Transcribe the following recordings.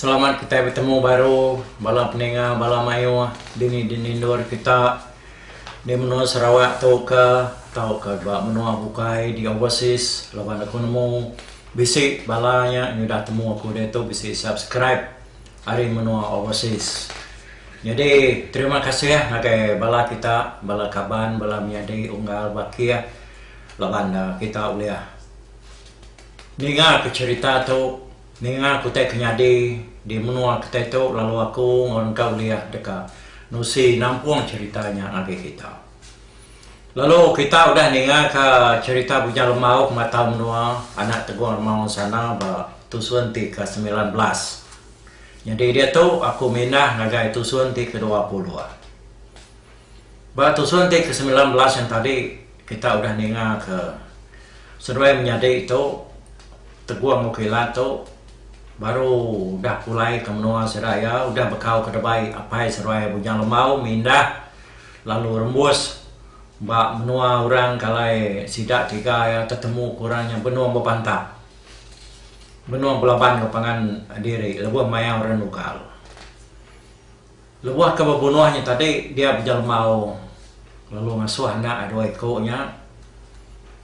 Selamat kitai betemu baru bala peninga bala mayuh dini dinindur kita di menua Sarawak tu ka tauka ba menua bukai di overseas laban aku nemu bisi bala nya nyudah temu aku diatu bisi subscribe ari menua overseas. Nyadi terima kasih ngagai bala kita bala kaban bala menyadi unggal bakih laban kita ulih ninga ke cherita tu. Ninga aku tai ke nyadi di menua kitai tu lalu aku enggau orang tua ulih deka nusi nampung cherita nya ngagai kita. Lalu kita udah ninga ka cherita Bujang Lembau Pematau Menua anak Tegong Remau ensana ba tusun ti ke semilan belas. Nyadi diatu aku mindah ngagai tusun ti ke dua puluh. Ba tusun ti ke semilan belas yang tadi kita udah ninga ke seduai menyadi tu Teguh enggau Kilat tu baru udah pulai ke menua sida iya udah bekau ke debai apai seduai Bujang Lembau mindah lalu rembus ba menua orang ke alai sida tiga iya tetemu ke orang nya benung bebantap benung belaban enggau pangan diri lebuh maya orang nungkal. Lebuh ke bebunuh nya tadi dia bejelma aung lalu ngasuh anak dua iku nya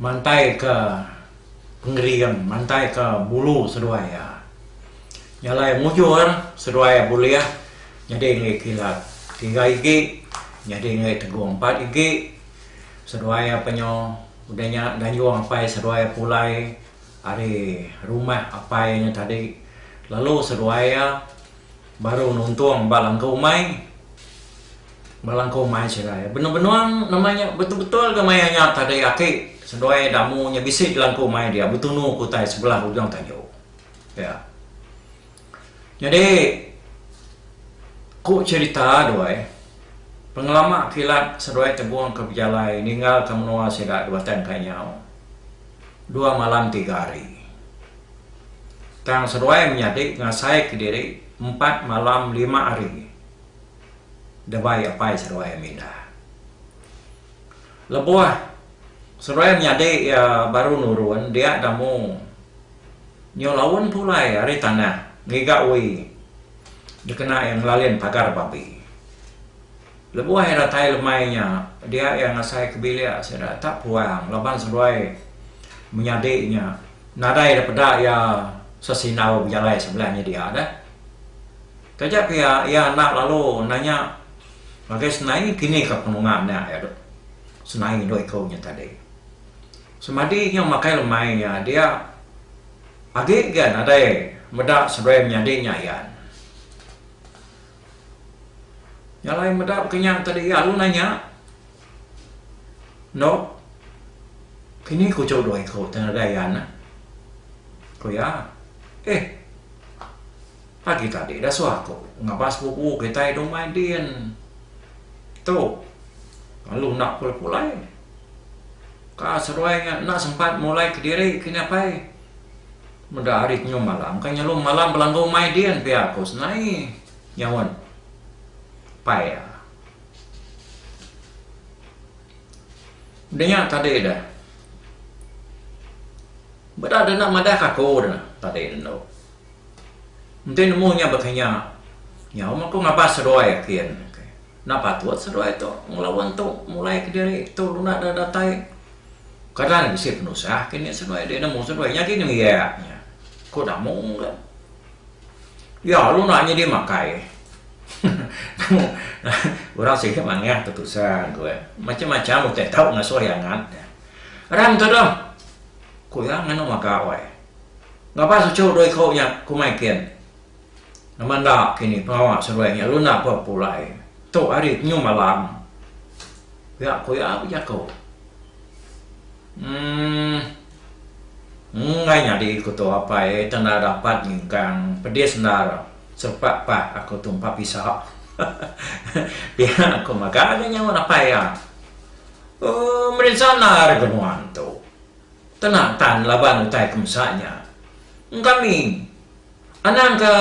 mantaika pengering mantaika bulu seduai iya. Nyalai mujur seduai iya bulih nyadi enggai kilat tiga igi nyadi enggai tegong empat igi seduai iya penyu udah nya ganjung apai seduai iya pulai ari rumah apai nya tadi lalu seduai iya Baru nuntung ba langkau umai. Ba langkau umai serai. Benung-benung nama nya betul-betul ga maya nya tadi aki seduai damu nya bisi di langkau umai dia betunu ke utai sebelah ujung tajuk. Pia. Nyadi ku cherita duai pengelama kilat seduai tegungka bejalai ninggalka menua sida dua tan kai nyau. Dua malam tiga hari. Tang seduai menyadi ngasai kediri empat malam lima hari debai apai seduai mindah. Lebuh seduai menyadi iya baru nurun dia damu nyu laun pulai ari tanah ngiga ui dikena iya ngelalin pagar babi. Lebuh iya datai lemai nya, dia iya ngasai ke bilik sida tak puang laban seduai menyadi nya nadai dipeda iya sesindau bejalai sebelah nyedia deh. Taja pia iya enda lalu nanya ngagai Senai kinika penunga nya iya dok. Senai endur iku nya tadi. Semadi nya makai lemai nya dia agi ga nadai meda seduai menyadi nya iya. Nya alai meda ke nya ke diak lu nanya Nok kini ku chau dua iku te ngagai iya neh ku iya eh pagi tadi dah suah ku ngaba sepupu kitai dong main din tu lalu enda pulai pulai ka seduai nya enda sempat mulai kediri kini apai. Meda hari kenyau malam ka nyelum malam belanggu mai din pia ko senai nyaun pai iya. Denya tadi dah. Meda deh enda madah ka ko deh tadi endo. Enti nemu nya bekinya nyau mah ko ngabas seduai kin. Enda patut seduai tu ngelawan tu mulai kediri tu lunda da datai. Kada nya bisi penusah ke nya seduai deh nemu seduai nya gin ngiak nya. Ko damung ka. Ya lu na nya di makai. Orang sigi mangah ke tusah ko eh. Macam macam utai tau ngasoh iya ngat. Ram tu doh. Ko iya nganu maka wai. Ngapa sucu dua iko nya kumai kin. Nama enda kini pengawa seruai nya lu enda pa pulai. Tu hari penyu malam. Pia ku iya bejaku. Emm. Enggai nyadi ku tu apai ai tang enda dapat nyingkang pedis endar serepak pah aku tu empa pisa. Pia ku mega nya nyaut apai iya. Emm merinsa endar ke nuan tu. Tena tan laban utai ke mesa nya. Engkami. Anang ka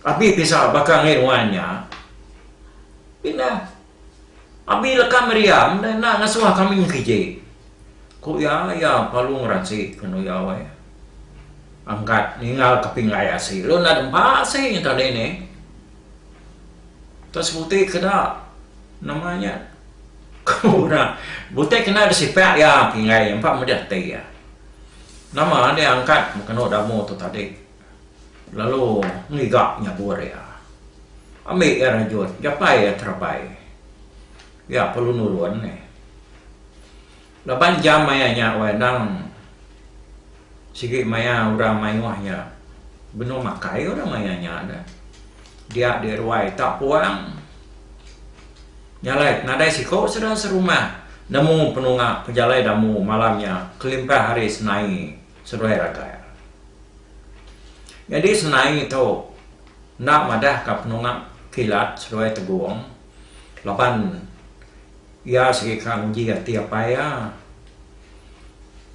Abi pisau baka ngai ruan nya. Pina Abi leka meriam deh enda ngesuh kami ngkiji. Ku iya, iya palu ngeransi ngenu iya weh. Angkat ningal kepinggai asi lu enda dempa asi tadi nih. Tau sebutai ke da nama nya ku da butai kena da sipak iya pingai iya empa meda ati iya nama dia angkat bekenu da amu tu tadi lalu ngiga nyabut iya ambi iya rejut japai iya terabai iya perlu nulung. Laban jam maya nya wai endang sigi maya orang mayuh nya benung makai orang maya nya dah. Dia di ruai tak puang nyalai nadai siko sida serumah nemu penunga pejalai damu malam nya kelimpah ari senai seduai ragai. Nyadi senai tu enda madahka penunga kilat seduai tegong laban. Iya sigi ka nguji ati apai iya.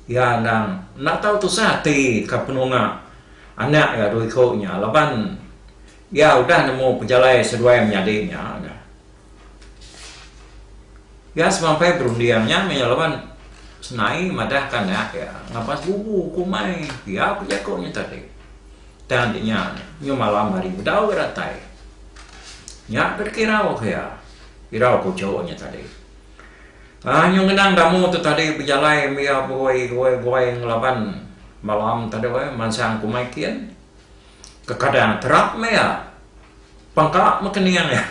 Iya endang enda tau tusah ati ka penunga anak iya dua iku nya laban iya udah nemu pejalai seduai menyadi nya nya. Iya semampai berunding nya meh iya laban senai madah ka anak iya ngapa sebubu ku umai pia ku jaku nya tadi. Tang nya nyu malam hari bedau ga datai. Nya ke dikirau ka iya. Irau ku Chau nya tadi. Ai nyau ngenang damu tu tadi bejalai mia beroi goi goi ngelaban malam tadu ai mansang kumai kin. Kekadang terap mia. Pangka meken nia nya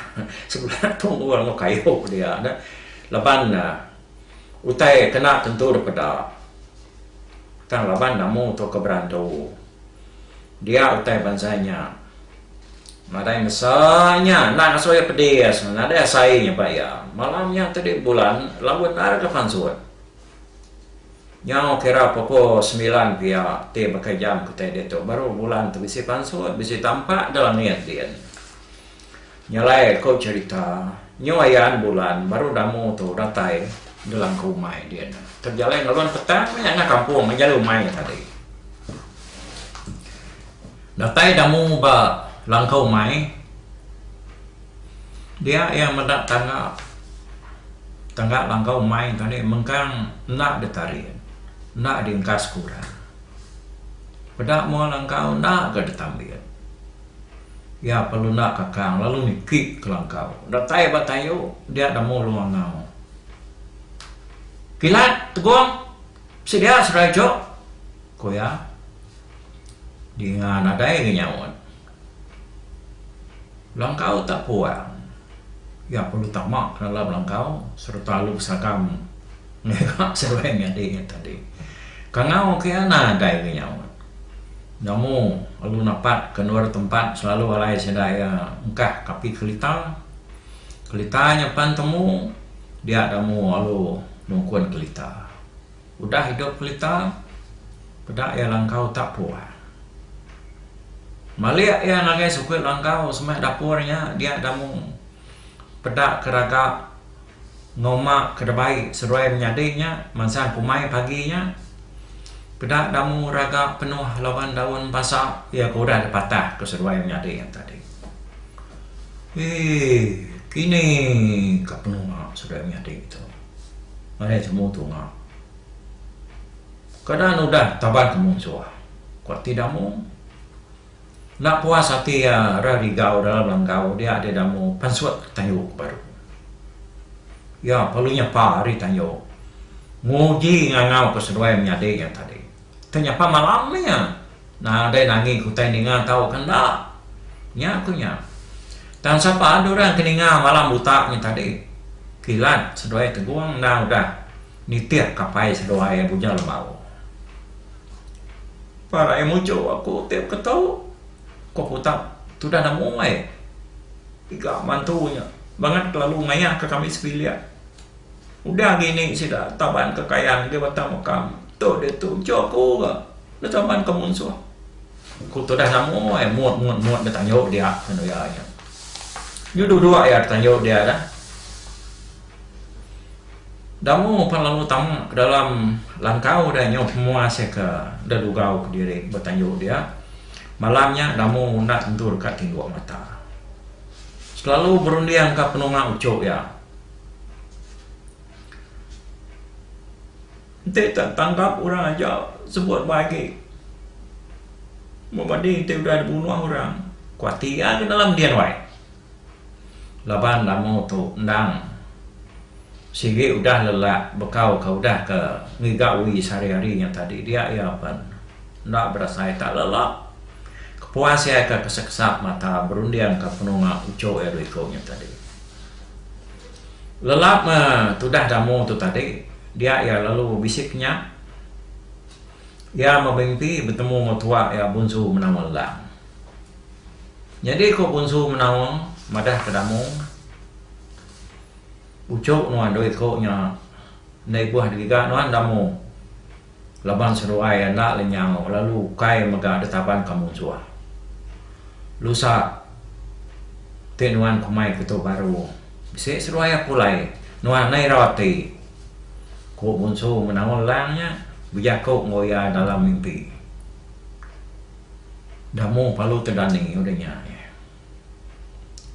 sebedau tu enggau enggau kayu dia nya laban utai kena tentu dipeda. Tang laban damu tu ke berantu. Dia utai bansa nya. Nadai mesa nya endang asal iya pedis, nadai asai nyebak iya. Malam nya tadi bulan lalu endar ke pansut. Nyau kira pukul semilan pia ti baka jam kitai ditu baru bulan tu bisi pansut, bisi tampak ke langit din. Nyalai ko cherita nyu ayan bulan baru damu tu datai gelang ko umai dia nya tejalai ngelun petang maya enggau kampung ngejalai umai nya tadi. Datai damu ba langkau umai dia iya meda tangga tangga langkau umai nya tadi mengkang enda ditarit enda diengkas ke orang peda mua langkau enda ka ditambit. Iya pelunda kakang lalu niki kelangkau. Datai ba tayu dia nemu lu angau. Kilat, Tegong, sedia serai jo, ku iya. Dinga nadai ga nyaut. Langkau tak puang. Iya perlu tama ke dalam langkau sereta lu besagam ngaga seruai nyadi iya tadi. Kangau ke iya nadai ga nyaut. Nemu alu napat ke endur tempat selalu alai sida iya engkah kapi kelita. Kelita nya pan temu dia nemu alu nungkun kelita. Udah idup kelita peda iya langkau utak puan. Malik iya ngagai sukut langkau semeh dapur nya dia nemu peda ke raga Noma ke debai seduai menyadi nya mansang kumai pagi nya peda damu raga penuh laban daun basa iya ke udah dipatah ke seduai menyadi nya tadi. Eii kini ka penua seduai menyadi tu ngagai jemu tunga keadaan udah taban ke munsuh ku ati damu. Enda puas ati iya ra digau dalam langgau dia di Damu pansut Tanjung Baru. Iya perlu nyepa ari Tanjung nguji ngangau ke seduai menyadi iya tadi. Tau nyepa malam meh iya nadai nangi ke utai ninga tau ke enda. Nya ku iya. Tang sapa adu orang ke ninga malam buta nya tadi. Kilat seduai Tegong enda udah nitih kapai seduai Buja Lembau. Pah raie mujur aku ti beketu ku aku utak tudah enda muai ga mantu nya bangat kelalu mayah ka kami sebilik udah agi ni sida taban kekayan di batang meka tu ditu ujok aku ga enda taban ka munsuh ku tudah enda muai mut mut mut enda tanju dia lalu iya nya nyu dua dua iya tanju dia dah. Damu pan lalu tama ke dalam langkau dia nyau pemua sia ke enda dugau kediri ba tanju dia. Malam nya Damu unda tentu deka tinduk mata. Selalu berundingka penunga uchu iya. Enti tak tangkap orang aja sebut ba agi. Mung padi enti udah dibunuh orang, kuati iya ke dalam din wai. Laban lamu tu endang sigi udah lelak bekau ka udah ka ngiga ui sehari-hari nya tadi dia iya pen enda berasai tak lelak kepuas iya ka kesap-kesap mata berunding ka penunga uchu iya dua iku nya tadi. Lelak me tudah damu tu tadi dia iya lalu bisi kenya iya memimpi betemu enggau tua iya bunsu menawa endang. Nyadi ko Punsu Menaung madah ke Damung, uchok nuan doi ko nya endai buah digaga nuan Damung laban seduai enda lenyau lalu ukai mega ditaban ka munsuh. Lusa ti nuan ko mai ke tu baru bisi seduai aku alai nuan ngena irau ati, ko Punsu Menaung lang nya bejaku enggau iya dalam mimpi. Damu palu te dani udah nya ni.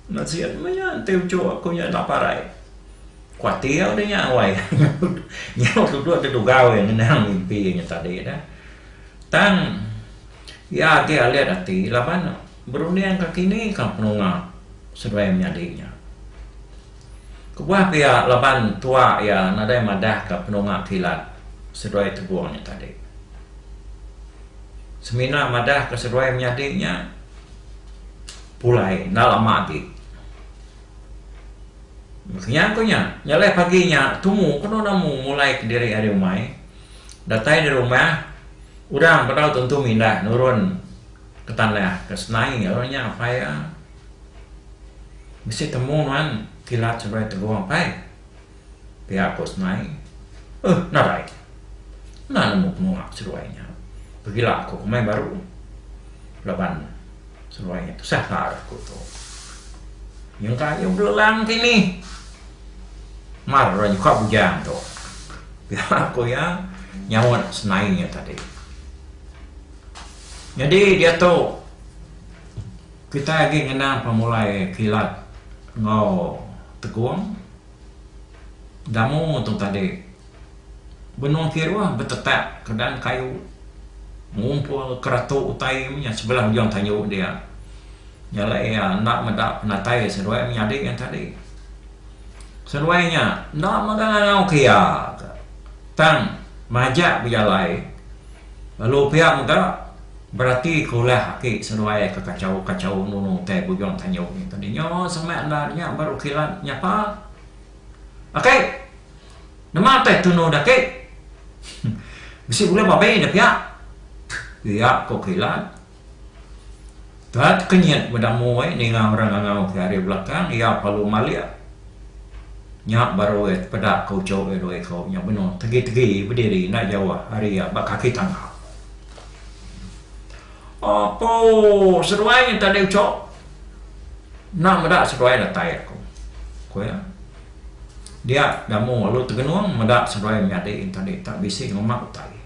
Enda sien meh nya enti uchu aku nya enda parai. Kuatir udah nya wai. Nya tudok ti dugau iya ngenang mimpi iya nya tadi dah. Tang iya agi alit ati laban berundingka kini ka penunga seduai menyadi nya. Kebuah pia laban tua iya nadai madahka penunga kilat seduai tebung nya tadi. Semina madahka seduai menyadi nya pulai enda lama agi. Kenyang ku nya, nyelai pagi nya tumu kenu namu mulaika diri ari umai, datai di rumah udang bedau tentu mindah nurun ke tanah ke senai lalu nanya apai iya. Mesti temu nuan kila cabai tegong pai. Pia ku Sny. Uh nadai. Enda nemu penua seduai nya. Pegila ku komai baru laban seduai nya tusah taar ku tu. Nyengka ayu belelang ti nih. Mar orang nyuka bujang tu. Pia ku iya nyaut Sny nya tadi. Nyadi diatu. Kitai agi ngenang pemulai kilat enggau tekung Damu tu tadi. Benung kiruh betetak kedan kayu ngumpul keratu utai menya sebelah ujung tanju dia. Nya alai iya enda meda penatai seduai menyadi nya tadi. Seduai nya enda mega ngangau ke iya tang majak bejalai lalu pia mega. Berati ke ulah aki seduai ke kachau-kachau nunu utai bujung tanjung nya tadi nyo samaik enda nya baru kilat nyapa Aki! Nemu utai tunu dah Aki! Bisi bulu babi dah pia! Pia ko kilat. Tuan tekenyit meda mui ninga orang ngangau ke ari belakang iya pelu malik. Nya baru iya tepeda ke uchu iya dua iko nya benung tegi-tegi bediri enda jauh ari iya ba kaki tangga. Apo seduai nyen tadi uchok enda meda seduai datai aku ku iya dia gamu lalu tegenung meda seduai menyadi nyen tadi tak bisi ngema utai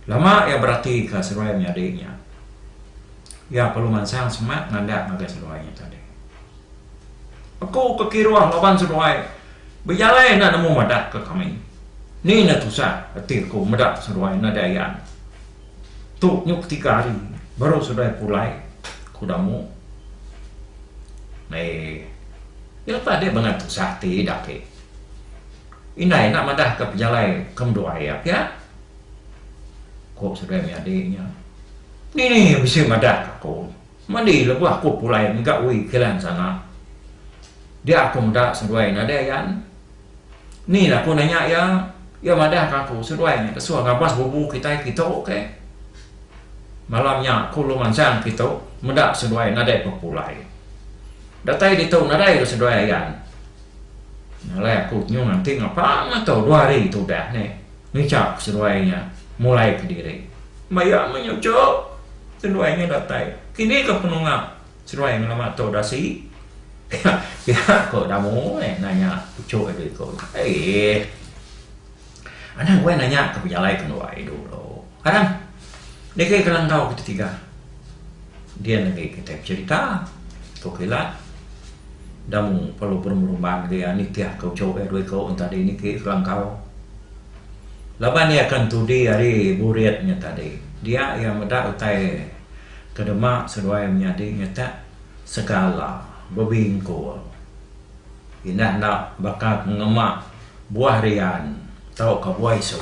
lama iya beratika seduai menyadi nya iya perlu mansang semak ngaga ngagai seduai nya tadi. Aku ke kiruh laban seduai bejalai enda nemu madah ke kami. Ni ne tusah ati aku meda seduai enda ada ayan. Tu nyu ke tiga hari baru seduai pulai ku damu. Mei lepa dia bengat tusah ati ida agi. Indai enda madah ke pejalai ke meduai iya pia. Ku seduai menyadi nya. Ni bisi madah ke aku. Meli lebuh aku pulai mega Wee Kilan sana. Dia aku meda seduai nadai yan. Ni la aku nanya iya, iya madah ka aku seduai nya ke suah ngabas bubu kitai kitu ke. Malam nya aku lu mansang kitu meda seduai nadai pepulai. Datai ditu nadai lu seduai ayan. Ngalai aku nyung anting apang ato dua hari tu udah ne. Ngucap seduai nya mulai ke diri. Maya menyucuk, seduai nya datai. Kini ke penunga seduai ngelama tu dasi? Pia ko Damu meh nanya puchuk iya diku nya. Eeh. Anang weh nanya ke pejalai ke nduai dulu. Kadang negi ke langkau kita tiga dian agi kitai becerita ku kilat enda mung perlu berumban agi iya nitih ke uchu iya dua iku enta di niki ke langkau laban iya akan tudi ari burit nya tadi dia iya meda utai ke dema seduai menyadi nyetak segala bebingkul indah enda baka pengema buah rian tauka buah isu.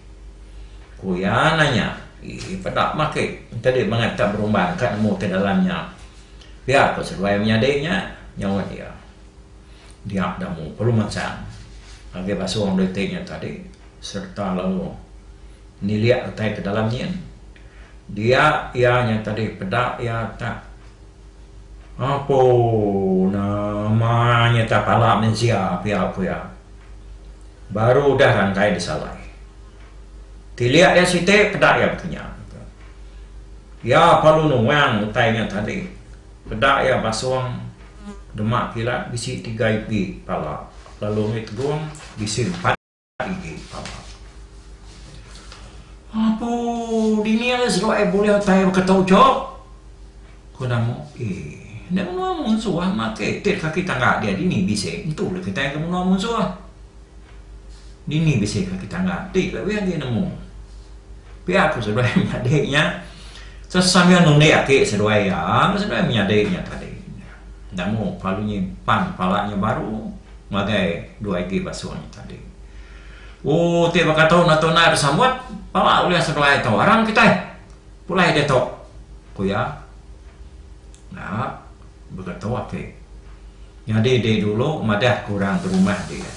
Ku iya nanya, Ii peda maki enti dih mangat ka berumban ka nemu ti dalam nya. Pia ko seduai menyadi nya, nyaut iya. Dia da mu perlu mansang agi basung dua iti nya tadi sereta lalu nilik utai ke dalam nyin. Dia iya nya tadi peda iya tak. Apo nama nya tak pala mensia pia pia. Baru udah rangkai disalai. Tilik iya siti peda iya betinya. Iya palu nuang utai nya tadi. Peda iya basung dema kilat bisi tiga ipi pala lalu mih tegung bisi empat. Igi Papa. Apo dini ari serok ai bulih utai baka tu chok? Ku Namu. Eeh, enda menua munsuh amat ke itit kaki tangga dia dini bisi entu le kitai ke menua munsuh. Dini bisi kaki tangga ti lebih agi nemu. Pia ku seduai menyadi nya sambil nundik aki seduai iya enggau seduai menyadi nya tadi. Namu palu nyi pan pala nya baru ngagai dua igi basu nya tadi. U ti baka tu enda tu nai besamut pala ulih asa belai tu arang kitai pulai ditu ku iya. Nya baka tu ati. Nyadi dulu madah ku orang berumah dia.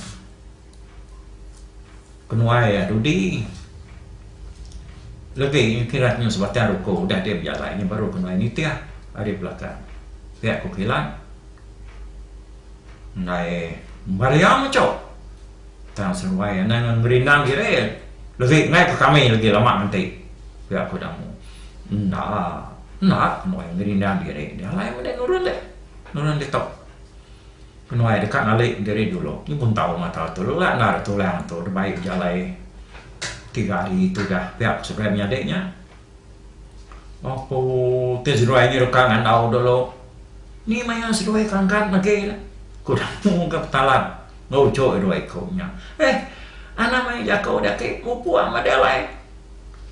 Penuai iya dudi lebi kira nyau sebatang ruko udah dia bejalai nya baru penuai nitih ari belakang pia ku kilat ndai Maria mecho tang seruai anang ngan gerindang diri lebi ngai ku kami lagi lama nganti pia ku Damu. Enda enda penuai gerindang diri nya alai meda nurun deh nurun ditok. Penuai deka ngalik diri dulu nyi pun tau mata tu lelak endar atu lang tu dibai bejalai tiga hari tu dah pia ku seberai menyadi nya oku ti seduai nyi deka ngandau dulu ni maya seduai kangkat lagi la ku daku ka petalan ngeruchok dua iku nya eh anak maya jaku da ake mupuk ama da alai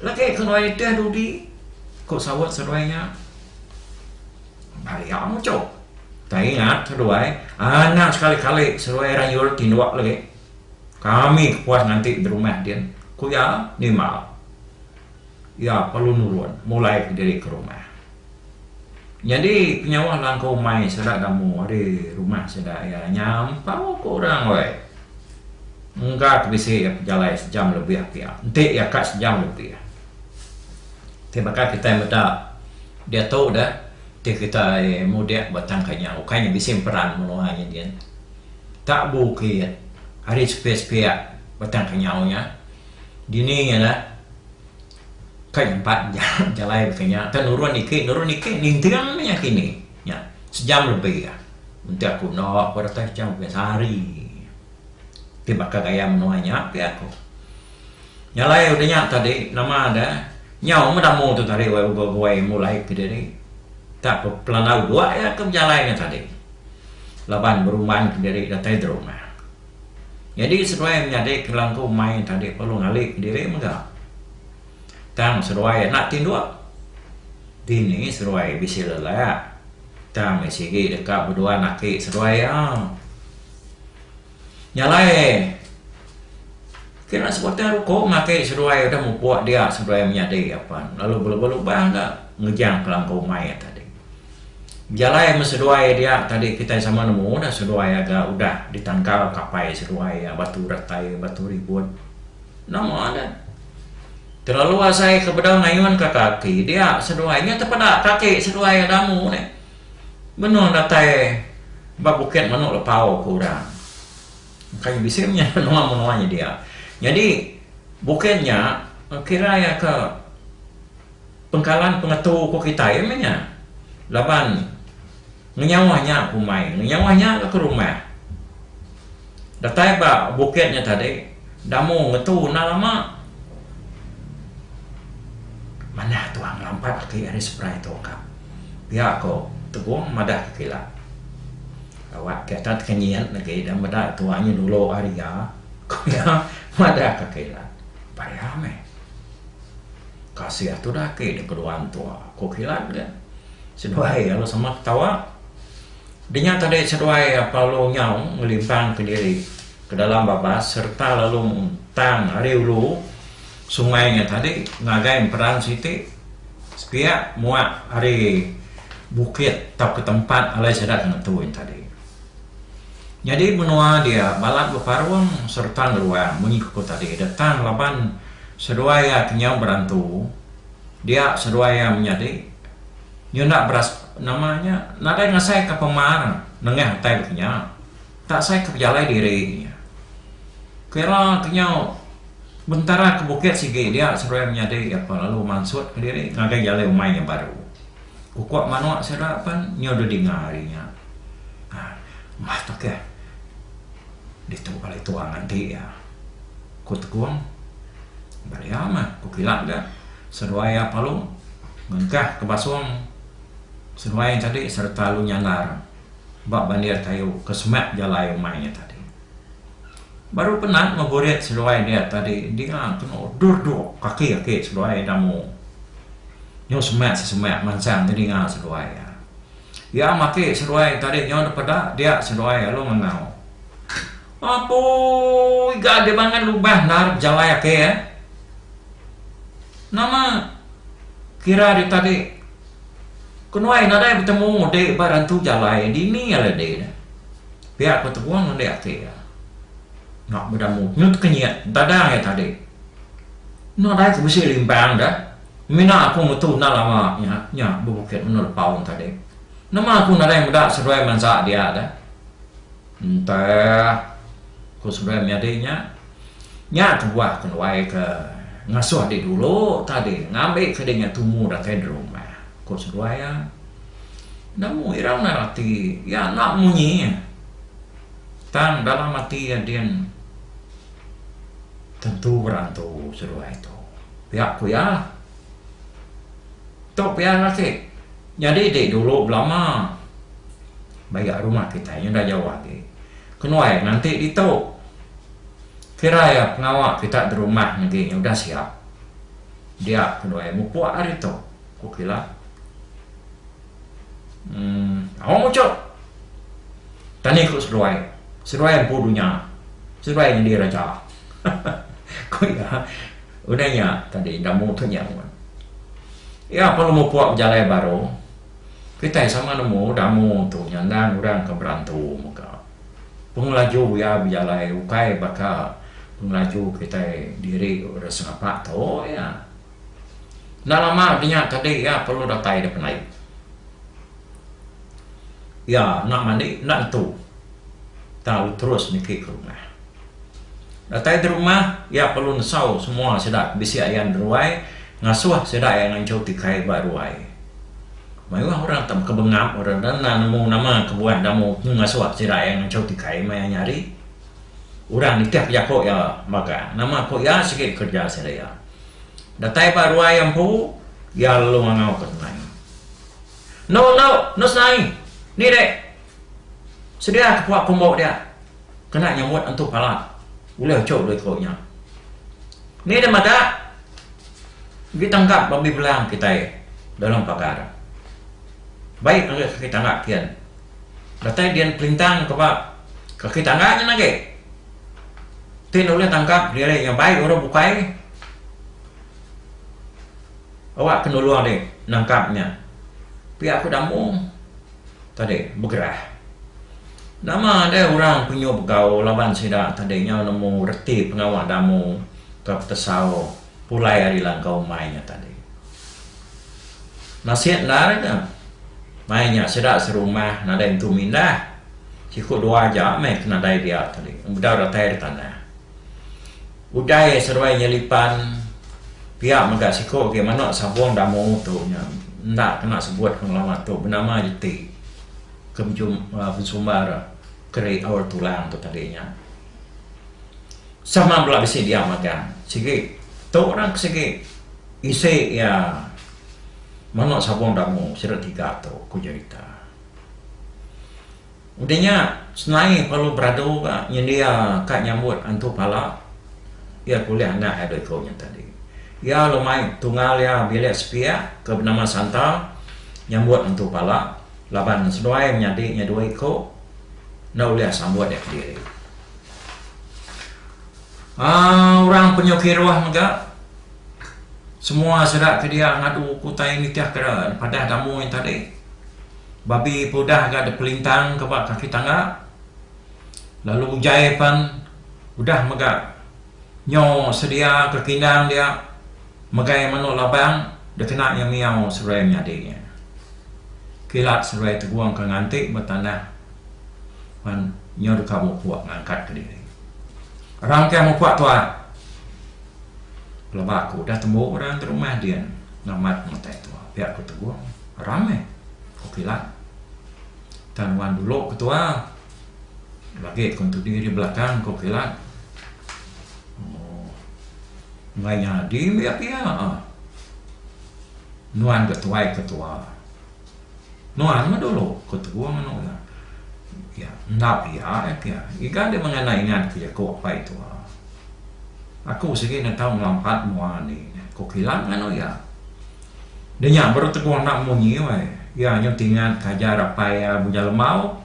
lagi kenuai ti dudi ku saut seduai nya. Ari iya muchup. Tang ingat seduai, anang sekali-kali seduai rayul tinduk lagi. Kami ke puas nganti berumah din, ku iya nimbal. Iya perlu nurun mulai ke diri ke rumah. Nyadi penyawa langkau mai sida gamu ari rumah sida iya nyampau ke orang weh. Engga ke bisi iya pejalai sejam lebih pia. Enti iya ka sejam lebih. Ti baka kitai meda. Diatu udah ti kitai mudik ba tang kenyau ukai nya bisi emperan menua nya din. Tak bukit ari sepia-sepia ba tang kenyau nya dini nya ka nyampat jalai ba kinya ka nurun ike nurun ike ninting mih nya kini nya sejam lebih ah enti aku enda aku rasa sejam lebih sehari ti baka gaya menua nya pia aku. Nya alai udah nya tadi nama da nyau meda mung tu tadi wai uba buai mulai ke diri tak ke pelandau dua iya ke bejalai nya tadi laban berumban ke diri datai da rumah. Nyadi seduai menyadi ke langkau mai tadi perlu ngali ke diri mega tang seduai enda tinduk dini seduai bisi lelak tang meh sigi deka beduan aki seduai iya. Nya alai kena sebatang ruko makai seduai udah mupuk dia seduai menyadi apan lalu belubang-lubang ga ngejang kelangkau umai iya tadi. Bejalai meh seduai dia tadi kitai sama nemu dah seduai iya ga udah ditangkal kapai seduai iya Batu Datai Batu Ribut nama ne telalu asai ke bedau ngayun ka kaki dia seduai nya tepeda kaki seduai iya damu nih. Menua datai ba bukit menu lepau ku orang. Kai bisi menya menua-menua nyedia. Nyadi bukit nya kira iya ke pengkalan pengetu ku kitai menya. Laban ngenyauh nya kumbai, ngenyauh nya ke rumah. Datai ba bukit nya tadi, Damu ngetu enda lama. Manah tuan ngelampat aki ari seberai tu ka. Pia ko Tegong madah ke kila. Awak ke enda teka nyit lagi enda meda tuan nya dulu ari iya, ko iya madah ke kila. Paya meh. Kasih tuda aki deka dua entua, ko kila ga. Seduai lalu sama ketawa. Denya tadi seduai Apollo nyau ngelimpangka diri ke dalam babas sereta lalu muntang ari ulu sungai nya tadi ngagai emperan siti sepiak muak ari bukit tauka tempat alai sida ke ngetu nya tadi. Nyadi menua dia balat beparung sereta ngeruang munyi ke ku tadi da tang laban seduai iya ke nyau berantu dia seduai iya menyadi Nyunak beras nama nya nadai ngasaika pemar nengah utai dulu nya. Tak asaika pejalai diri nya. Kira ke nyau bentara ke bukit sigi dia seruai menyadi apan lalu mansut kediri ngagai jalai umai nya baru. Kuko manuk sida pan nyau dulu dinga ari nya. Aaa mah tu keh. Ditu bala itu angan ti iya. Ku Tekong. Bala iya mah ku kila ga. Seduai Iya Palung ngengkah ke basung seduai iya tadi sereta lalu nyandar ba bandir kayu ke semak jalai umai iya tadi. Baru penat ngeburit seduai dia tadi dia kenu duduk kaki agi seduai Damu nyau semak sesemak mansang telinga seduai iya. Iya maki seduai tadi nyau depeda dia seduai lalu ngengau. Apoi ga agi bangat lubang endar bejalai ake eh. Nama kira ari tadi kenuai nadai betemu ngundi ba rantu jalai dini alai di ne. Pia ko Teguang ngundi ake iya. Nya beda mood nyut ke nyit dada iya tadi. Nadai ko bisi limbang deh. Mina aku mutu enda lama nya nya bebukit meno lepau tadi. Nama aku nadai meda seduai mansa dia deh. Entah, ku Sembilan nyadi nya. Nya kebuah kenuai ke ngasuh diri dulu tadi ngambi ke dinga tumu datai di rumah, ku Seduai iya. Enda mu irau nail ati iya enda munyi. Tang dalam ati iya din tentu berantu Seduai tu. Pia ku iya. Tu pia lelaki. Nyadi ti dulu belama maya rumah kitai enda jauh agi. Kenuai nganti ditu. Kira iya pengawa kita berumah negi nya udah siap. Dia kenuai mupuk ari tu, ku kila. Uhh au muchup. Tani ku seduai. Seduai empu dunya. Seduai nyadi raja. Ku iya. Udah nya tadi Damu tu nyaut. Iya pun mupuk bejalai baru. Kitai sama nemu Damu tu nyandang orang ke berantu mega. Pengelaju iya bejalai ukai baka pengelaju kitai diri orang Sengapa tu iya. Enda lama ke nya tadi iya perlu datai di Penai. Iya enda mandi enda nentu tau terus niki ke rumah. Datai ti rumah, iya perlu nesau semua sida ke bisi ayan di ruai ngasuh sida iya nganchau ti kai ba ruai. Mayuh orang tak baka bengap orang enda enda nemu nama ke buah damu ke ngasuh sida iya nganchau ti kai maya nya hari. Orang nitihka jaku iya magang nama ku iya sigi kereja sida iya. Datai ba ruai iya empu, iya lalu ngangau ke Nai. Endo endo, endo senai. Ni dek. Sedia ke pua kumbu dia. Kena nyamut entu pala. Ulih cu deh telu nya. Ni deh meda agi tangkap babi belang kitai dalam pagar. Baik ngagai kaki tangga kian. Datai dian pelintang ke ba kaki tangga nyen agi. Ti enda ulih tangkap diri nya bai orang bukai awak ke nulung deh nangkap nya. Pia ku Damung. tadi begerah. Nama deh orang penyu begau laban sida tadi nyau nemu reti pengawa damu ke petesau pulai ari langkau umai nya tadi. Nasit endar ke mai nya sida serumah nadai entu mindah. Siku dua aja meh ke nadai dia tadi, bedau datai ari tanah. Utai seruai nya lipan pia mega siku agi manok sabong damu tu nya enda kena sebut pengelama tu benama jeti ke bensumbar keri aur tulang tu tadi nya. Sama bela bisi dia magang sigi tu orang ke sigi isi iya manok sabong damu sida tiga tu ku Jerita. Udah nya, senai Paulus beradu ga nyendia kad nyambut antu pala. Iya tulih anak iya dua iku nya tadi. Iya lalu mai tungal iya bilik sepiak ke benama Santa nyambut antu pala laban seduai menyadi nya dua iku enda ulih sambut iya kediri. Aaa orang penyu kiruh mega semua sida ke dia ngadu ke utai nitihka padah damu nya tadi. Babi peludah ga dipelintang ka ba kaki tangga lalu ujai pan udah mega nyo sedia ka kindang dia megai manok labang dikena iya miyau seruai menyadi iya. Kilat seruai tegong ka nganti ba tanah pan nyo deka mupuk ngangkat ka diri. Orang mukah mupuk tuak pelaba aku udah tembu orang rumah dian ngamat mutai tuak pia ku tegong. Rang eh. Okila. Tang nuan dulu ke tua. Lagi ku entudi ri belakang ku Okila. Ooh. Enggai nyadi mih iya pia ah. Nuan ga tuai ke tua. Nuan meh dulu ku Tebu nganu iya. Iya. Enda pia iya pia. Iga deh mengena ingat ke jaku apai tua. Aku sigi nentau ngelampat mua andi. Ku Okila nganu iya. Dia nya baru teguh enda munyi wai. Iya anyu tingat ke ajar apai iya Bunyah Lemau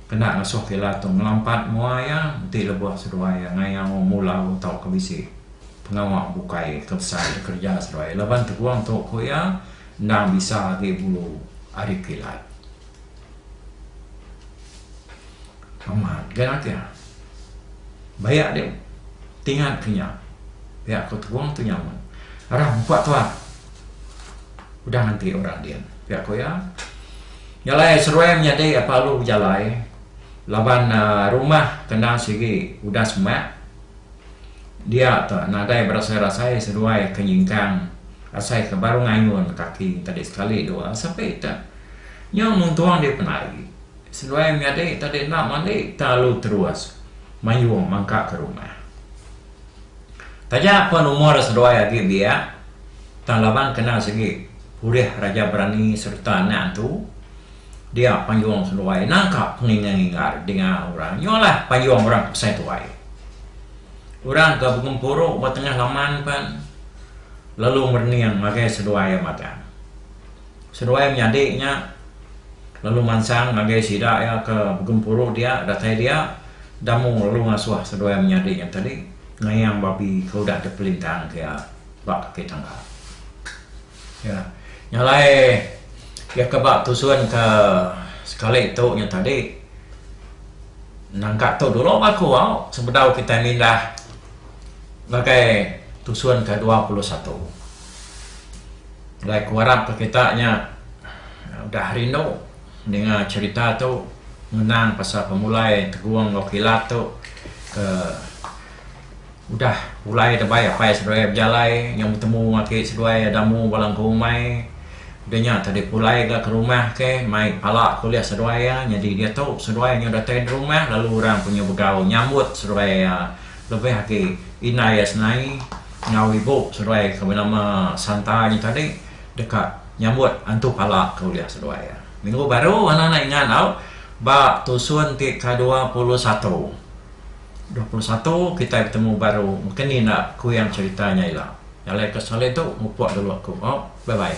kena ngesuh ke ila tu ngelampat mua iya enti lebuh seduai iya ngayau mulau tauka bisi pengawa bukai ke besai da kereja seduai iya laban teguh tu ku iya endang bisa agi bulu ari kilat. Amat ga ati ah. Bayak deh tingat ke nya. Pia ko Terong tu nyaman. Arah mpa tua. Udah nganti orang din. Pia ko iya. Nya alai seruai menyadi apa alu bejalai laban uhh rumah kena sigi udah semak. Dia tu nadai berasai-rasai seduai ke nyingkang asai ke baru ngayun kaki enti sekali dua. Sape ita. Nya mun tuang dia penat agi. Seduai menyadi tadi enda mandi tang lalu terus mayung mangka ke rumah. Taja pun umur seduai agi biak tang laban kena sigi pulih raja berani sereta anak entu dia payung seduai nangka pengingar-ingar dinga orang. Nya lah payung orang ke besai tuai. Orang ke begempuru ba tengah laman pen lalu merening ngagai seduai iya magang. Seduai menyadi nya, lalu mansang ngagai sida iya ke begempuru dia datai dia, Damu lalu ngasuh seduai menyadi nya tadi ngayang babi ke udah dipelintangka iya ba kaki tangga. Iya nya alai iya ke ba tusun ke sekali tu nya tadi nangka tu dulu bah aku au sebedau kitai mindah ngagai tusun ke dua puluh satu. Alai ku arap ke kita nya udah rindu ninga cherita tu ngenang pasal pemulai tegong enggau kilat tu ke udah pulai da bai apai seduai bejalai nyau betemu aki seduai ada mu bala engku umai da nya tadi pulai ga ke rumah ke mai pala ke ulih seduai iya nyadi diatu seduai nyau datai da rumah lalu orang panyu begau nyambut seduai iya. Lebih agi, indai iya senai enggau ibu seduai ke benama Santa nya tadi deka nyambut antu pala ke ulih seduai iya. Minggu baru anak enda ingat tau, ba tusun ti ke dua puluh satu, dua puluh satu kitai betemu baru mungkin nya enda kuing cerita nya ila. Nyalai ke sekali tu mupuk dulu aku. Au, bye bye.